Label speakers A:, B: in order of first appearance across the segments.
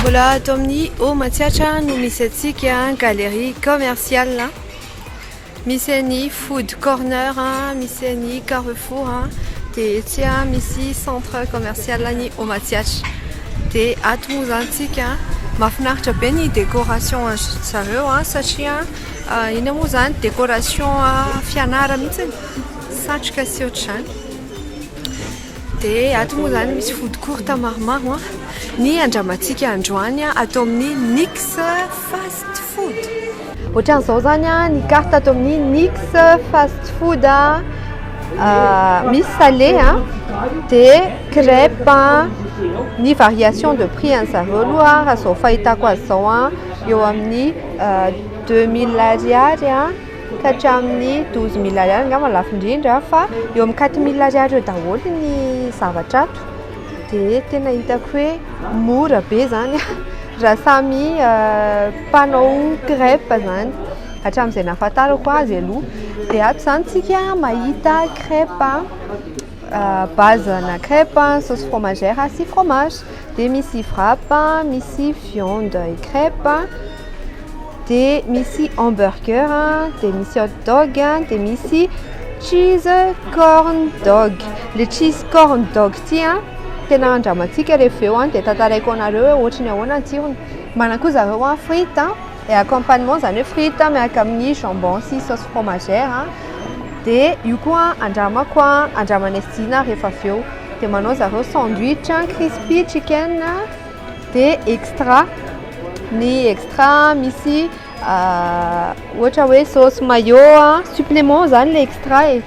A: Mbola ato amin'ny Haut Matsiatra no misy antsika galerie commerciale. Misy an'ny food corner, misy an'ny carrefour dia etsy misy centre commerciale an'ny Haut Matsiatra. Dia ato moa izany tsika mahafinaritra be ny décoration azo zareo satria inona moa izany décoration fianara mihitsy satroka sy ohatr'izany. Dia ato moa izany misy food court maromaro an, ny andramantsika androany an, ato amin'ny Nix Fast Food. Ohatran'izao izany an, ny carte ato amin'ny Nix Fast Food an, misy salé an, dia crêpe an, ny variation de prix an'ny zareo aloha raha izao fahitako azy izao an, eo amin'ny deux mille ariary an. ka hatramin'ny douze mille ariary angamba no lafo indrindra fa eo amin'ny quatre mille ariary eo daholo ny zavatra ato dia tena hitako hoe mora be izany raha samy mpanao crêpe izany, hatramin'izay nahafantarako azy aloha, dia ato izany isika mahita crêpe. Base na crèpe, sauce fromagère sy fromage. Dia misy wrap, misy viande et crèpe, dia misy hamburger, dia misy hot dog, dia misy cheese corn dog. Ilay cheese corn dog ity an, tena handramantsika rehefa avy eo dia tantaraiko anareo hoe ohatry ny ahoana ny tsirony. Manana koa zareo an frites. Et accompagnement zany hoe frite miaraka amin'ny jambon sy sauce fromagère dia io koa andramako andramanay sy Dina rehefa avy eo dia manao zareo sandwich crispy chicken dia extra ny extra misy ohatra hoe sauce mayo supplément zany ilay extra e.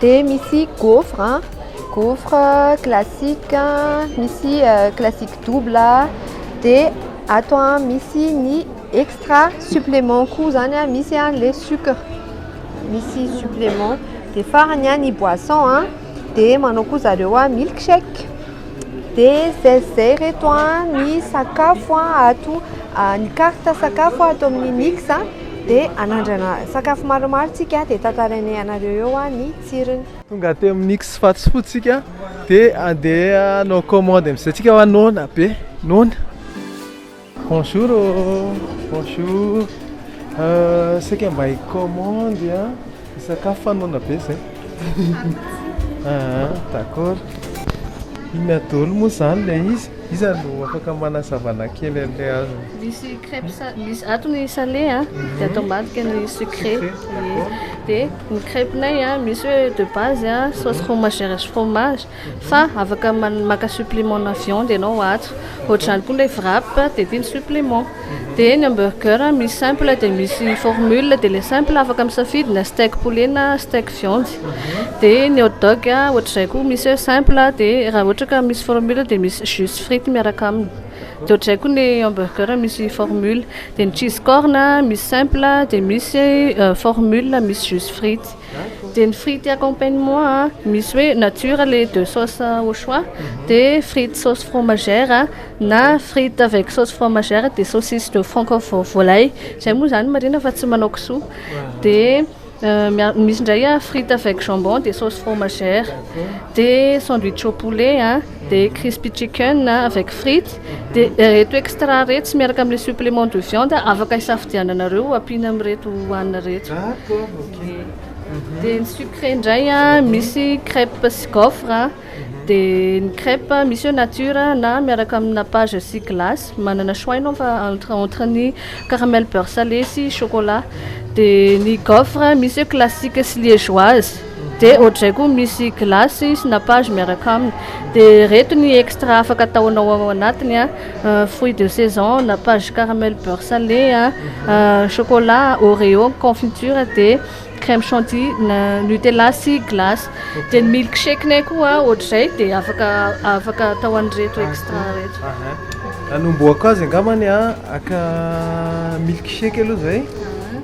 A: Dia misy gaufre an, gaufre classique, misy classique double, dia ato misy ny extra supplément koa izany an, misy ilay sucre, misy supplément. Dia farany an, ny boisson an, dia manao koa zareo milk shake. Dia izay sy izay ireto an, ny sakafo an, ato, ny carte sakafo ato amin'ny mix. Dia anandrana sakafo maromaro tsika dia tantarainay anareo eo ny tsirony. Tonga teo amin'ny X
B: Fats Food tsika dia andeha hanao commande amin'izay tsika hoa noana be noana. Bonjour ô, bonjour, saika mba hi-commande an. Hisakafo fa noana be zay. Ah, d'accord. Inona daholo moa izany ilay izy? Iza no afaka manazava anay kely an'ilay azony? Misy crêpe
C: sa- misy ato ny salé a, dia ato ambadika ny sucré. Sucré, d'accord. Dia ny crêpe-nay a, misy hoe de base a, sauce fromagère sy fromage, Fa afaka maka supplément na viande ianao ato. Ohatr'izany koa ilay wrap dia tiany supplément. Dia ny hamburger misy simple dia misy formule dia ilay simple afaka misafidy na steak poulet na steak viande. Dia ny hot dog ohatr'izay koa misy hoe simple dia raha ohatra ka misy formule dia misy jus sy frity miaraka aminy. Dia ohatr'izay koa ny hamburger misy formule. Dia ny cheese corn misy simple dia misy formule misy jus sy frity. Dia ny frity accompagnement a, misy hoe nature le de sauce au choix, dia frity sauce fromagère na frity avec sauce fromagère dia saucisse de franc vo- volaille. Izay moa izany marina fa tsy manao kisoa. Dia mia- misy indray a frity avec jambon dia sauce fromagère. Dia sandwich au poulet a. dia crispy chicken avec frites, dia ireto extra iretsy miaraka amin'ny supplément de viande afaka hisafidiananareo ho ampiana amin'ireto hohanina ireto. Dia ny sucré indray misy crêpe sy gaufre, dia ny crêpe misy eo nature na miaraka amin'ny nappage sy glace, manana choix ianao fa entre entre ny caramel beurre salé sy chocolat, dia ny gaufre misy eo classique sy liégeoise. Dia ohatr'izay koa misy glace sy nappage miaraka aminy. Dia ireto ny extra afaka ataonao ao anatiny a, fruits de saison, nappage caramel beurre salé, chocolat, oreo, confiture, dia crème chantilly, nutella sy glace. Dia ny milk shake-nay koa ohatr'izay dia afaka afaka atao an'ireto extra ireto. Hanombohako azy
B: angambany a, haka milk shake aloha izay.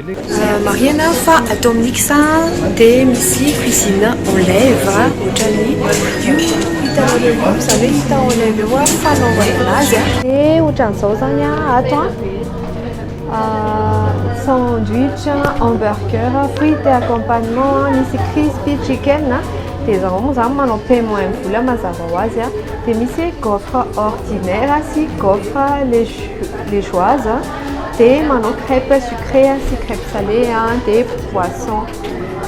B: Marihina fa
A: ato amin'ny Mix dia misy cuisine en live ohatran'ny io hitanareo io, izany hoe hita en live eo fanaovana azy. Dia ohatran'izao izany ato sandwich, hamburger, frites et accompagnement, misy crispy chicken, dia izaho moa izany manao paiement en boule mazava ho azy, dia misy gaufre ordinaire sy gaufre liégeoise. dia manao crêpe sucrée sy crêpe salée dia poisson.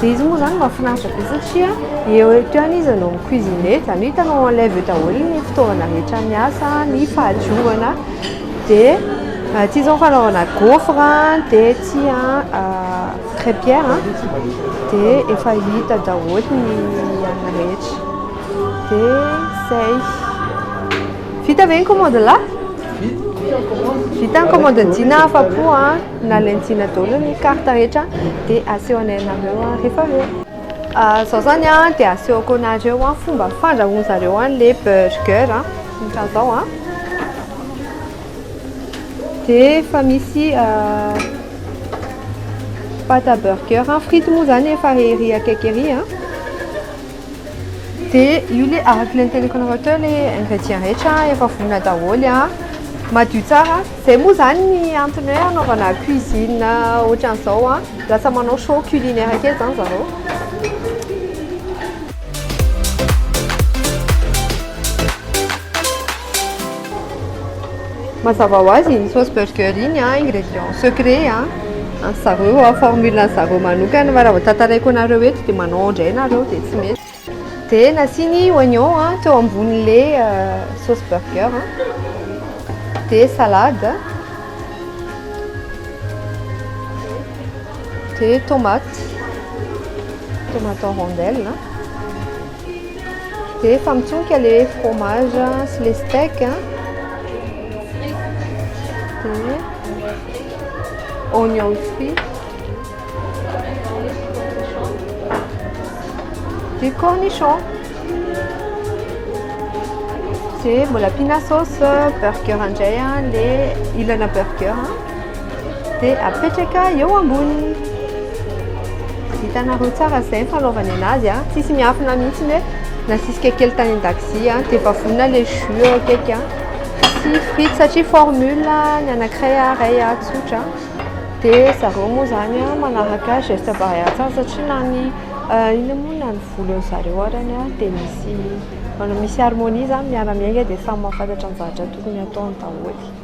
A: Dia izy moa izany mahafinaritra be satria eo eo ihany izy no mi-cuisiner, izany hoe hitanao en live eo daholo ny fitaovana rehetra miasa, ny fahadiovana. Dia aty izao ny fanaovana gaufre, dia aty crêpière dia efa hita daholo ny an'ny rehetra. Dia izay. Vita ve ny commande lahy? Vita ny commande Dina afa-po a, nalain'i Dina daholo ny carte rehetra dia asehonay anareo rehefa avy eo. Zao zany a, dia asehoko anareo a, fomba fandrahoan zareo an le burger a, ohatra zao a, dia efa misy pâte à burger, frity moa zany efa ery akaiky ery a. dia io le araka ilay niteniko anareo teo le ingrédients rehetra efa vonona daholo a, madio tsara, zay moa zany ny antony hoe anaovana cuisine ohatran'izao a, lasa manao show culinaire kely zany zareo. Mazava ho azy iny sauce burger iny an, ingrédients secrets an, an'ny zareo an, formule an'ny zareo manokana fa raha vao tantaraiko anareo eto dia manao indray nareo dia tsy mety. Dia nasiany oignon an, teo ambonin'ilay sauce burger an, dia salade, dia tomate, tomate en rondelle an. Dia efa mitsonika ilay fromage sy ilay steak. Dia oignon frit. Dia cornichon. Dia mbola ampiana sauce burger indray ilay ilana burger. dia apetraka eo amboniny. Hitanareo tsara izay ny fanaovana anazy a. Tsisy miafina mihitsy hoe nasisika kely tany an-dakozia a, dia efa vonona ilay jus eo akaiky a. Tsy frite satria formule ny anankiray a, iray a, tsotra. Dia zareo moa izany a, manaraka geste barrière tsara satria na ny inona moa na ny volon'ny zareo arany a, dia misy manao misy harmonie izany miara-miainga dia samy mahafantatra ny zavatra tokony hataony daholo.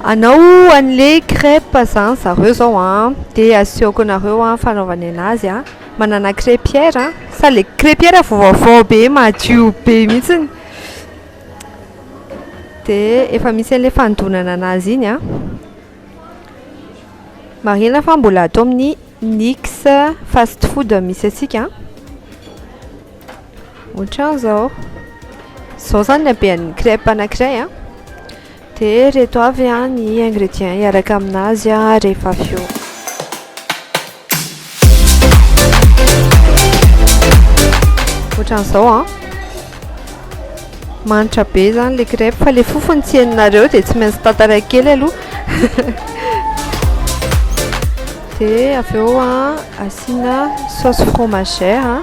A: Anao anle crèpe zany zareo zao a de aseoko anareo a fanaovany anazy a manana crèpière sa le crèpière vao vaovao be madio be mihitsiny de efa misy anle fanodonana anazy iny a marihina fa mbola ato amin'ny nix fast food misy antsika otran'izao zao zany ny habean'ny crèpe anankiray a. Dia ireto avy ny ingredients hiaraka amin'azy rehefa avy eo. Ohatran'izao an. Manitra be izany ilay crêpe fa ilay fofony tsy henonareo dia tsy maintsy tantaraiko kely aloha. Dia avy eo asiana sauce fromagère.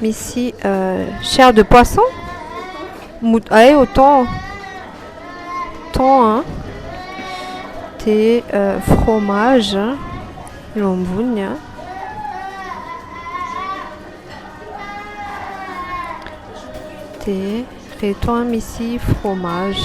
A: Misy chair de poisson? Hay au thon. Thon a. Dia fromage eo amboniny a. Dia ireto misy fromage.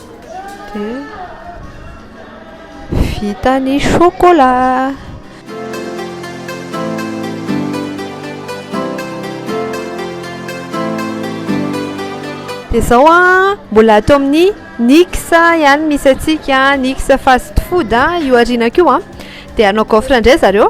A: dia vita ny chocolat. Dia izao an, mbola ato amin'ny Nix ihany misy antsika, Nix fast food io aorianako io an, dia hanao gaufre indray zareo.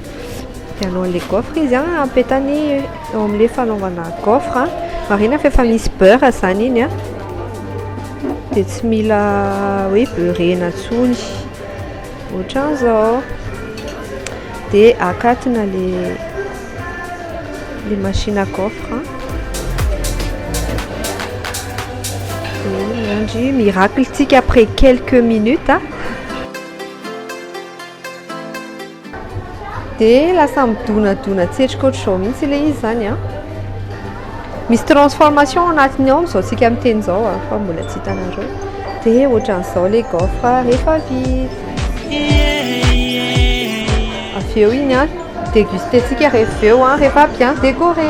A: Vidianao an'ilay gaufre izy an, apetany eo amin'ilay fanaovana gaufre an, marihina fa efa misy beurre izany iny an, dia tsy mila hoe beurre-na intsony, ohatran'izao, dia akatona ilay ilay machine à gaufre an, dia miandry miracle-tsika après quelques minutes an. Dia lasa midonadona tsetroka ohatr'izao mihitsy ilay izy izany an. Misy transformation ao anatiny ao amin'izao tsika miteny izao an, fa mbola tsy hitanareo. Dia ohatran'izao ilay gaufre rehefa vita. Avy eo iny an, deguster-tsika rehefa avy eo an, rehefa bien décoré.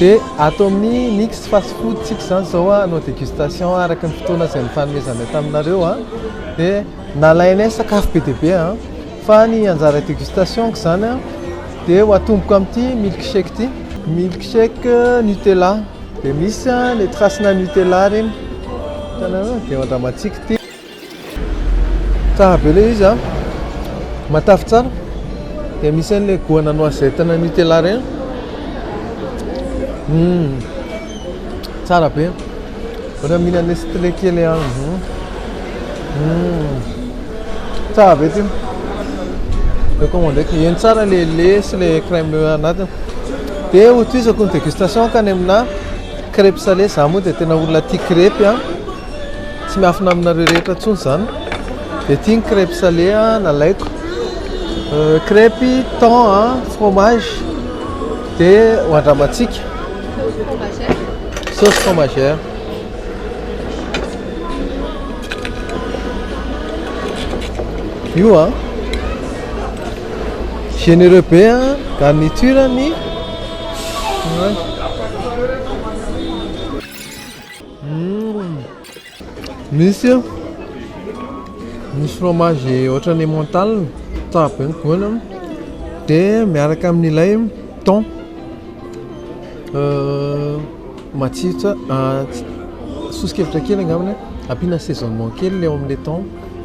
B: Dia ato amin'ny Nix Fast Food tsika izany izao hanao dégustation araka ny fotoana izay nifanomezanay taminareo an! Dia nalainay sakafo be dia be an! Fa ny anjara dégustation-ko izany an! Dia ho atomboko amin'ity milk shake ity. Milk shake Nutella, dia misy an le trace-na Nutella ireny, hitanareo an! Dia ho andramantsika Tsara be ilay izy a, matavy tsara, dia misy an'ilay goana noisette na nutella ireny. Hum, tsara be. Ohatra mihinana nestlé kely aho. Hum, hum, tsara be ity. Recommandeko. Heno tsara ilay lait sy ilay crème anatiny. Dia hotohizako ny dégustation ka any aminà crêpes salées. Izaho moa dia tena olona tia crêpes a. Tsy miafina aminareo rehetra intsony izany. Dia ity ny crêpe salé nalaiko. Euh, crêpe thon a fromage dia ho andramantsika. Sauce fromagère. Io a. Généreux be a, garniture-ny. Misy misy fromage ohatran'ny emmental tsara be ny goany an dia miaraka amin'ilay thon matsiro tsara sosokevitra kely angambany ampiana assaisonnement kely ilay ao amin'ilay thon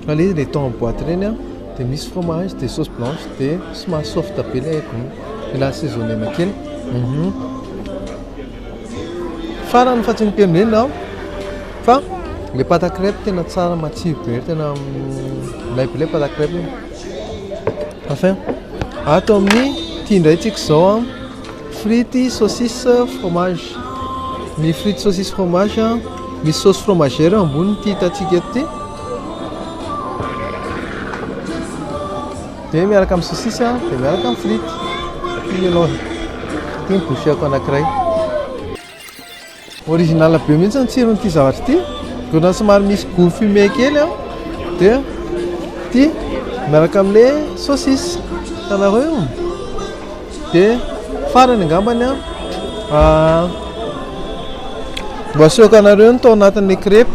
B: fa ilay izy ilay thon amin'ny boaty ireny an dia misy fromage dia sauce blanche dia somary soft be ilay gony dia assaisonner-na kely Farany fa tsy niteny be ianao fa le pâte à crêpe tena tsara matsiro be tena ilay ilay pâte à crêpe iny enfin ato amin'ny ity indray tsika izao an frity saucisse fromage ny frity saucisse fromage an misy sauce fromagère eo amboniny ity hitantsika eto ity Dia miaraka amin'ny sosisy an, dia miaraka amin'ny frity. Ity ny anaovy. Ity ny boucheko anankiray. Original be mihitsy ny tsiron'ity zavatra ity. Dona somary misy goût fumé kely an. Dia ity miaraka amin'ilay sosisy. Hitanareo io? Dia farany angambany an. Ah, mba asehoko anareo ny tao anatin'ilay crêpe.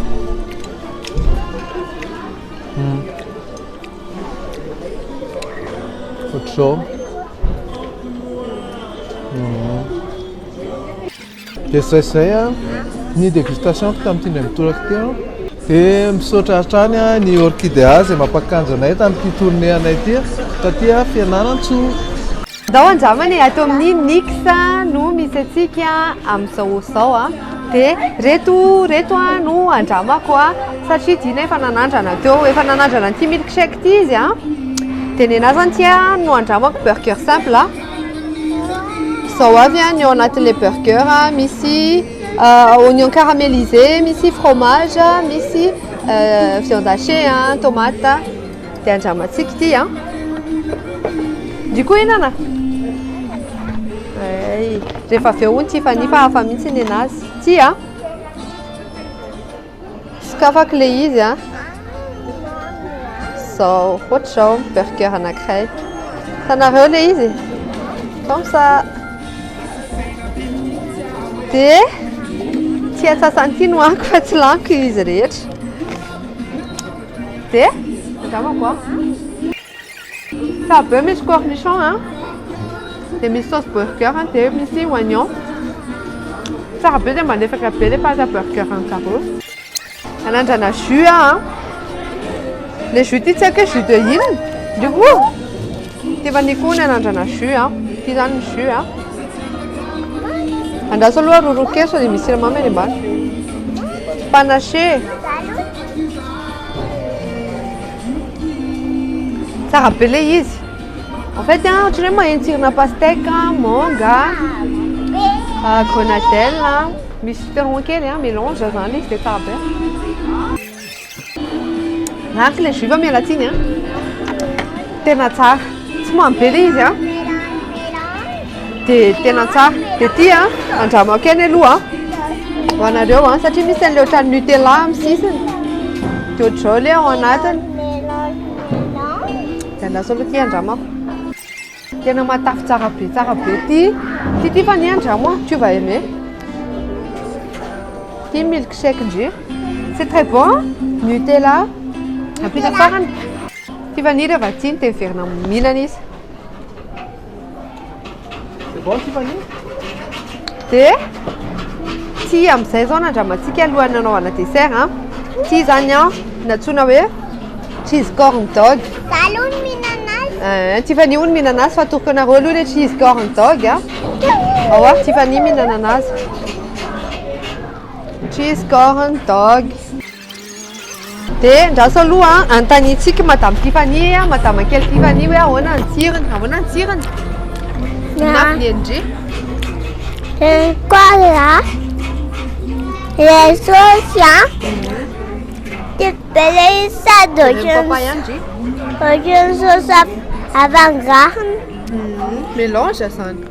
B: Ohatr'izao. Dia izay izay ny dégustation-ko tamin'ity indray mitoraka ity an. Dia misaotra hatrany ny Orkidea izay mampakanjo anay tamin'ity tournée anay ity, taty fianarantsoa. Zao
A: anjamana e, ato amin'ny Nix no misy antsika amin'izao zao a. Dia reto reto a no andramako a, satria Dina efa nanandrana teo, efa nanandrana an'ity milkshake ity izy a. Dia nenah zany ity a no andramako burger simple a. Zao avy a ny ao anatin'ilay burger a, misy oignon caramélisé, misy fromage, misy viande hachée a, tomate. Dia andramantsika ity an. Ry koa enana. Ay, rehefa avy eo hono Tiffany fa hafa mihitsy ny enazy. Ty an. Sokafako le izy an. Zao, ohatr'izao burger anankiray. Tanareo le izy. Comme ça. Dia tsy atsasany ity no anko fa tsy laniko izy rehetra. Dia, tazamako an. Sahabe misy cornichon an, dia misy sauce burger an, dia misy oignon. Tsara be dia malefaka be ilay pâte à burger an-dry zareo. Nanandrana jus aho an. Ilay jus ity tsy haiko hoe jus de inona. Dia koa, ity efa nikoa ny hanandrana jus an. Ity izany ny jus an. Andraso aloha rorokeso dia misy siramamy any ambany. Panache. Tsara be le izy. En fait, hein, ohatran'ny hoe maheno tsirina pastèque, hein, manga, ah, grenadelle, hein. Misy citron kely, hein, mélange zany izy dia tsara be. Ratsy le jus fa miala tsiny, hein. Tena tsara. Tsy mamy be le izy, hein. dia tena tsara dia ty a andramako kely aloha ho anareo a satria misy an'ilay ohatran'ny nutella amin'ny sisiny dia ohatr'izao ilay ao anatiny dia andraso aloha ty andramako tena matavy tsara be tsara be ty ty ty fa ny andramo a tu vas aimer ty milkshake ndry c'est très bon nutella ampita farany ty vanille rehefa tsiny dia miverina mihinana izy C'est
B: bon
A: Tiffany? Dia ity amin'izay izao nandramantsika alohan'ny nanaovana dessert an. Ity izany an, nantsoina hoe cheese corn dog. Za aloha
D: no mihinana azy. Eh, Tiffany hono mihinana
A: azy fa atoroko anareo aloha ilay cheese corn dog an. Ao ary Tiffany mihinana anazy. Cheese corn dog. De andraso aloha anontaniantsika madame Tiffany a, madama kely Tiffany hoe ahoana ny tsirony, ahoana ny tsirony? Ny mafy ny endry.
D: Cola, les sauces, hein? Des belles salades
A: orange.
D: Orange sauce avangarina.
A: Mélange zany.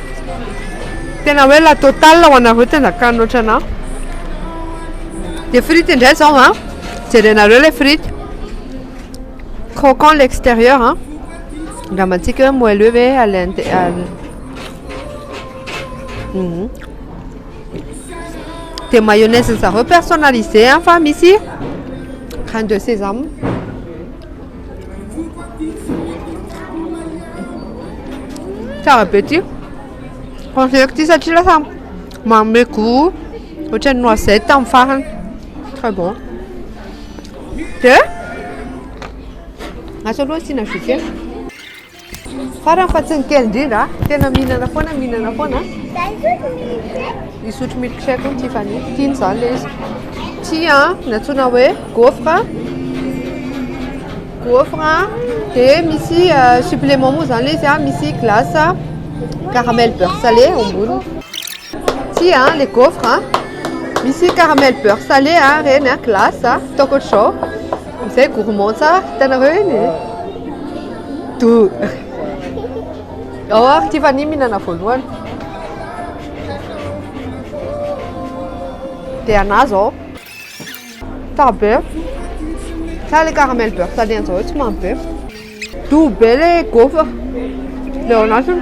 A: Tena hoe la totale ho anareo te handakany loatra anah. Dia frity indray izao an. Jerenareo ilay frity. Croquant l'extérieur an. Andramantsika hoe moelleux ve à l'intérieur. Euh, mhm. Dia mayonnaise zareo personnalisé an fa misy crème de sésame. Tsara be ty. Conseilleko ty satria lasa manome goût ohatran'ny noisette amin'ny farany. Très bon. De Asa aloha asiana jus kely. Farany fa tsy ny kely indrindra, tena mihinana foana, mihinana foana. Misotro milkshake hono Tiffany, tiany izany ilay izy. Tia natsoina hoe gaufre, gaufre, dia misy euh, supplément moa izany ilay izy, ah, misy glace caramel beurre salé ao amboniny. Tia ilay gaufre, misy caramel beurre salé ireny, glace, ataoko ohatr'izao. Izay gourmand tsara, hitanareo eny e! Do! Ao ary Tiffany mihinana voalohany. Dia anà izao. Tsara be. Tsara ilay caramel beurre tany an'izao hoe tsy mamy be. Do be ilay gaufre. Ilay ao anatiny.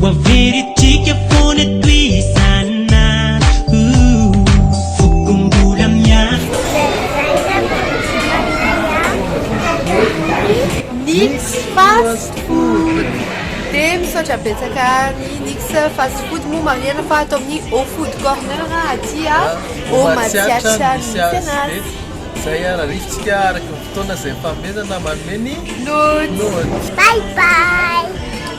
A: Ho averintsika foana eto izany Foko mbola Nix fast food dia misaotra betsaka ny Nix fast food moa marihina fa ato amin'ny Au food corner aty Au Matsiatra misy azy izay ary
B: arifontsika araka ny fotoana izay fanomezana manome ny nody.
D: Bye bye.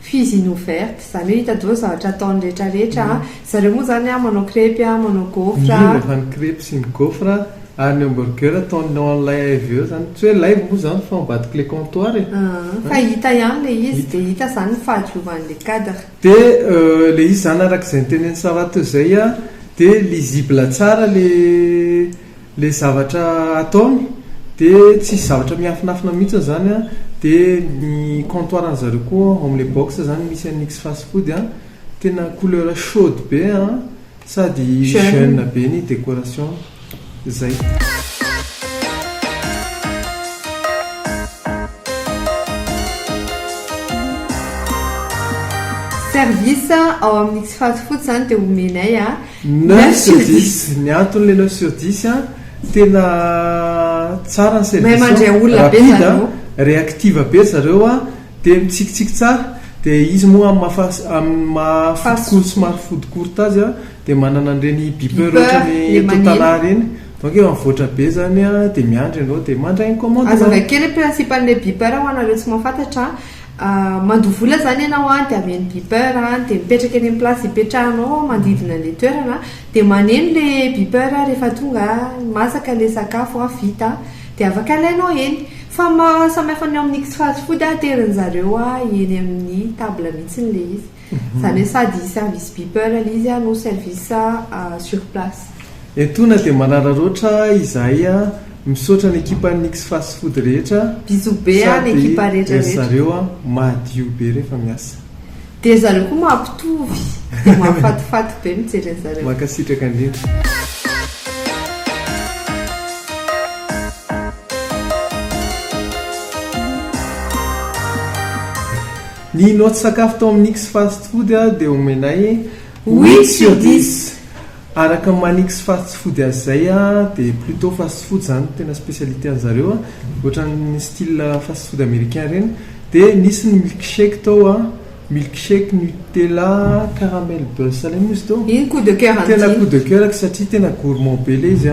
A: Fils in ouverte, izany hoe hitadiao zavatra ataony rehetra rehetra a, zareo moa izany a manao crepes a, manao gaufres a. Indrindra fa ny crepes sy
B: ny gaufres a, ary ny hamburger ataony ao an'ilay AIVE ao izany, tsy hoe live moa izany fa ambadiky ilay comptoir e. Aa, fa hita ihany
A: ilay izy, dia hita izany ny fahadiovan'ilay cadre. Dia
B: ilay izy izany araka izay nitenen'i Sarah teo izay a, dia lisible tsara ilay. Ilay zavatra ataony dia tsisy zavatra miafinafina mihitsiny izany an, dia ny comptoir an'ny zareo koa ao amin'ilay box izany misy an'ny X fast food an, tena couleur chaude be an, sady jeune be ny décoration, zay. Service ao amin'ny X fast food izany dia omenay an,
A: Neuf sur dix,
B: ny antony le neuf sur dix an, tena tsara ny service ao, mahay mandray olona be
A: zany ô, rapide,
B: reactive
A: be ry
B: zareo an, dia mitsikitsiky tsara, dia izy moa amin'ny maha fast, amin'ny maha food court, somary food court azy an, dia manana an'ireny beeper ohatran'ny totana ireny, donc efa mivoatra be zany an, dia miandry ianao dia mandray ny commande nao. Azavain-kely ny principe
A: an'ilay beeper ho anareo tsy mahafantatra an. Mandoa vola zany ianao an, de avy any beeper an, de mipetraka eny am place ipetrahanao ao manodidina anle toerana an, de maneno le beeper rehefa tonga an, masaka le sakafo an, vita an, de afaka alainao eny. Fa ny maha samy hafa ny ao amin'ny X-fast food an, aterin'zareo eny amin'ny table mihitsy le izy. Izany hoe sady service beeper ilay izy no service sur place. Etona dia
B: manararaotra izahay a! Misaotra ny ekipan'ny Nix Fast Food rehetra a! Bisous be an ny
A: ekipa rehetra rehetra! Sady ry zareo a
B: madio be rehefa miasa. Dia ry zareo
A: koa mampitovy! Dia mahafatifaty be mijery an zareo! Mankasitraka indrindra!
B: Ny notes sakafo tao amin'ny X Fast Food dia omenay huit sur dix. Araka ny maha ny X Fast Food azy izay dia plutôt fast food izany no tena spécialité an'ny zareo, ohatran'ny style fast food américain ireny. Dia nisy ny milkshake tao, milkshake Nutella caramel beurre salé moa izy teo? Iny coup de coeur an'ity. Tena
A: coup de coeur-ko
B: satria tena gourmand be ilay izy.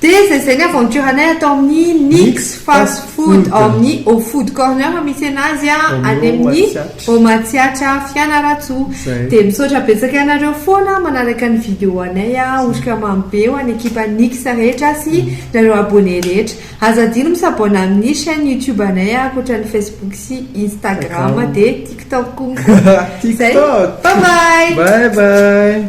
B: Dia izay
A: izay ny aventure anay ato amin'ny Nix Fast Food ao amin'ny Au Food Corner misy anazy any amin'ny Au Matsiatra Fianarantsoa. Izay. Dia misaotra betsaka anareo foana manaraka ny video anay Otrika Mamy Be ho an'ny ekipa Nix rehetra sy nareo abonné rehetra. Aza adino mi-s'abonne amin'ny chaîne YouTube anay ankoatra ny Facebook sy Instagram dia TikTok konko. Izay.
B: TikTok.
A: Bye bye. Bye bye.